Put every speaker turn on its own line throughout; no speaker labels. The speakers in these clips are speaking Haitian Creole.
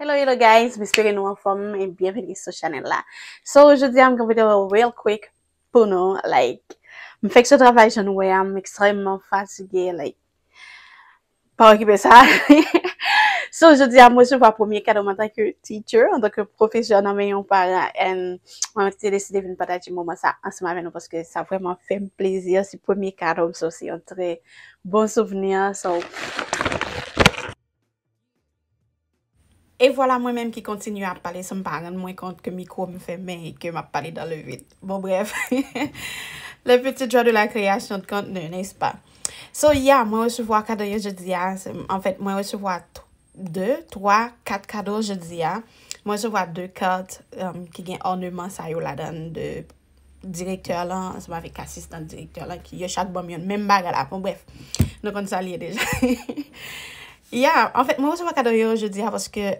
Hello hello guys, m espere nou anfòm e byenvini sou chanèl la. So jodi a m gen pou mete real quick pou nou like m fèk sou travay jan nou wè a m ekstrèmman fatige like pa okipe sa. So jodi a m resevwa premye kado m antanke teacher, antanke pwofesè nan men yon paran and mwen menm te deside vin pataje moman sa ansanm avè nou paske sa vrèman fè m plezi, se premye kado m so se yon trè Bon souvni a sa w pran. E vwala mwen menm ki kontinye ap pale san m pa rann mwen kont ke mikwo m fèmen e ke m ap pale dan le vid. Bon brèf. Le petit joie de la création de contenu, n'est-ce pas? So ya, mwen resevwa kado yo jodi a. En fait, mwen resevwa 2, 3, 4 kado jodi a. Mwen resevwa 2 carte ki gen ornement sa yo ladan l de direktè lan, ansanm avèk asistan direktè lan ki yo chak ban m yon menm bagay la. Bon brèf, nou konn sa l ye deja. Ya, anfèt mwen resevwa kado yo jodi a paske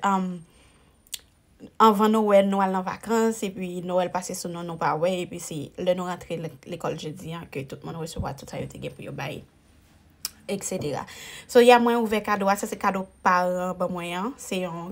anvan Nowèl nou al nan vakans epi Nowèl pase sou nou nou pa wè epi se lè nou rantre lekòl jodi a ke tout moun resevwa tout sa yo te gen pou yo bay eksetera. So ya mwen ouvè kado a, sa se kado paran ban mwen an. Se yon.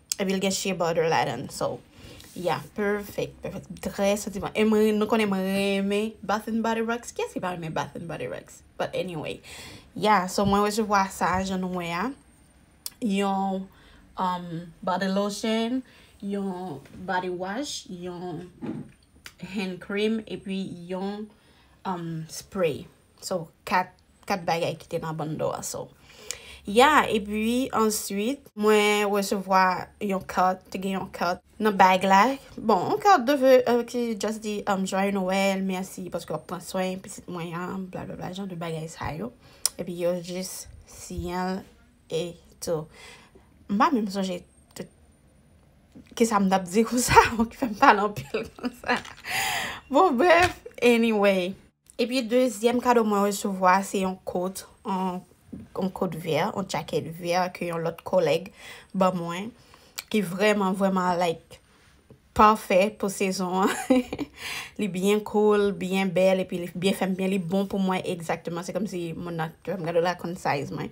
epi l gen shea butter ladan so yeah perfect perfect trè santiman e mwen nou konnen mwen renmen bath and body works kiyès ki pa renmen bath and body works but anyway yeah so mwen resevwa sa jan nou wè a yon um, body lotion yon body wash yon hand cream epi yon um, spray So, 4, 4 bagay ki te nan bando a. So, ya, epi, answit, mwen resevwa yon kat, te gen yon kat nan bag la. Bon, yon kat de ve, ki just di, Joyeux Noël, mèsi paske wap pran swen pitit mwen an, bla bla bla, jan de bagay sa yo. Epi yo jis siyen l e tou. M pa menm sonje tout, kisa m tap di konsa, ki fè m pale anpil konsa. Bon, bref, anyway. Epi dezyèm kado mwen resevwa a se yon kot, yon kot vè, yon djakèt vè ke yon lòt kolèg ban mwen ki vrèman vrèman like pafè pou sezon an. Li byen koul, byen bèl epi li byen fèm byen, li bon pou mwen egzakteman. Se kòmsi moun nan te fèm gade l la konn size mwen.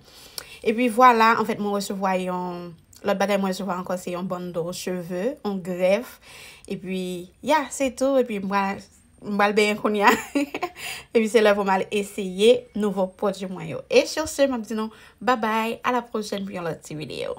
Epi vwala, anfèt mwen resevwa yon, lòt bagay mwen resevwa ankò se yon bundle cheve, yon grèf. Epi ya se tou epi mwen M pral benyen kounye a. Epi se lè pou m al eseye nouvo pwodui mwen yo. E sur ce m ap di nou babay a la pwochèn pou yon lòt ti videyo.